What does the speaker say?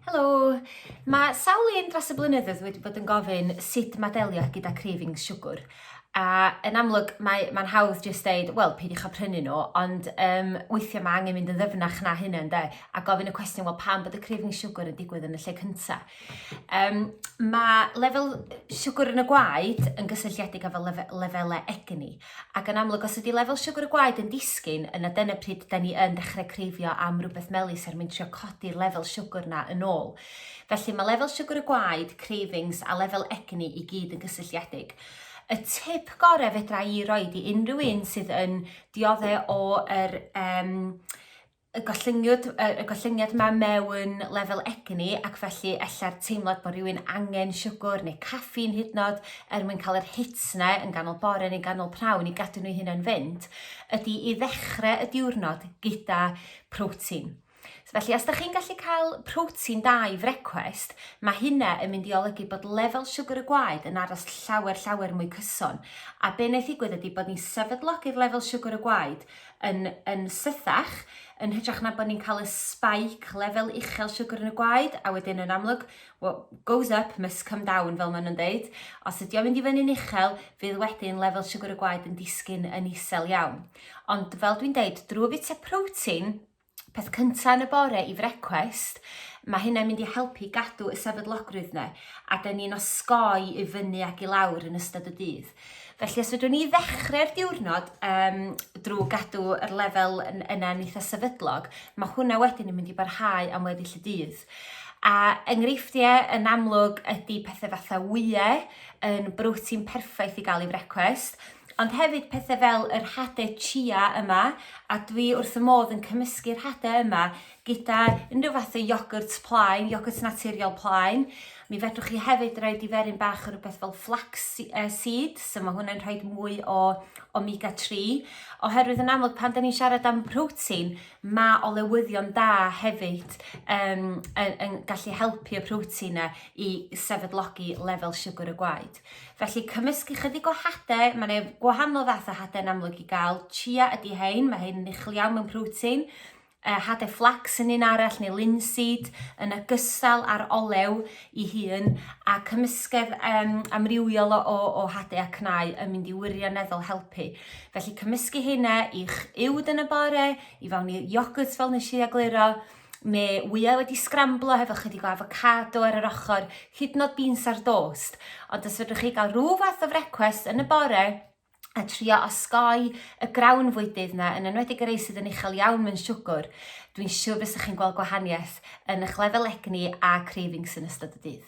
Helo! Mae sawl un dros y blynyddoedd wedi bod yn gofyn sut mae delio gyda cravings siwgr. A yn amlwg, mae'n mae hawdd jyst dweud, wel, peidiwch â prynu nhw, ond um, weithiau mae angen mynd yn ddyfnach na hynna, ynddo? A gofyn y cwestiwn, wel, pam bod y cravings siwgr yn digwydd yn y lle cyntaf? Um, mae lefel siwgr yn y gwaed yn gysylltiedig â fel lefe, lefelau egni. Ac yn amlwg os ydi lefel siwgr y gwaed yn disgyn yna dyna pryd 'dan ni yn dechre creifio am rwbeth melys er mwyn trio codi'r lefel siwgr 'na yn ôl. Felly ma' lefel siwgr y gwaed, cravings a lefel egni i gyd yn gysylltiedig. Y tip gore fedra i roid i unrhyw un sydd yn diodde o yr yym y gollyngiad, y gollyngiad ma mewn lefel egni ac felly ella'r teimlad bod rhywun angen siwgr neu caffîn hyd nod er mwyn cael yr hits yna yn ganol bore neu ganol prawn i gadw nhw hynna'n fynd, ydy i ddechrau y diwrnod gyda protein. Felly, os da chi'n gallu cael protein da i frecwest, mae hynna yn mynd i olygu bod lefel siwgr y gwaed yn aros llawer, llawer mwy cyson. A be wnaeth ddigwydd ydy bod ni'n sefydlogi'r lefel siwgr y gwaed yn yn sythach yn hytrach na bo' ni'n ca'l y spike lefel uchel siwgr yn y gwaed a wedyn yn amlwg wha- goes up must come down fel ma' nw'n deud os ydi o'n mynd i fyny'n uchel fydd wedyn lefel siwgr y gwaed yn disgyn yn isel iawn. Ond fel dwi'n deud drw fita protein peth cynta yn y bore i frecwest, mae hynna'n mynd i helpu gadw y sefydlogrwydd yna, a dyn ni'n osgoi i fyny ac i lawr yn ystod y dydd. Felly os ydw'n ni ddechrau'r diwrnod um, drwy gadw yr lefel yna'n eitha sefydlog, mae hwnna wedyn yn mynd i barhau am weddill y dydd. A enghreifftiau yn amlwg ydy pethau fatha wyau yn brotein perffaith i gael ei frecwest, Ond hefyd pethe fel yr hade chia yma, a dwi wrth fy modd yn cymysgu'r hade yma gyda unrhyw fath o iogwrt plaen, iogwrt naturiol plaen. Mi fedrwch chi hefyd roi diferyn bach o rhywbeth fel flax seeds, so mae hwnna'n rhoi mwy o omega 3, oherwydd yn amlwg pan da ni'n siarad am protein, mae olewyddion da hefyd um, yn, yn gallu helpu y protein yna i sefydlogi lefel siwgr y gwaed. Felly cymysg ychydig o hade, mae yna gwahanol fath o hade yn amlwg i gael. Chia ydy hein, mae hein yn uchel iawn mewn protein. Uh, hade flax yn un arall neu linseed yn ogystal â'r olew i hun a cymysgedd um, amrywiol o, o, o hade a cnau yn mynd i wirioneddol helpu. Felly cymysgu hynna i'ch uwd yn y bore, i fawn i iogwrt fel nes i egluro, me wyau wedi sgramblo hefo chydig o avocado ar yr ochr, hyd nod beans ar dost. Ond os fedrwch chi gael rhyw fath o frecwest yn y bore, a trio osgoi y grawn fwydydd yna, yn enwedig y rei sydd yn uchel iawn mewn siwgr, dwi'n siŵr fysa chi'n gweld gwahaniaeth yn eich lefel egni a cravings yn ystod y dydd.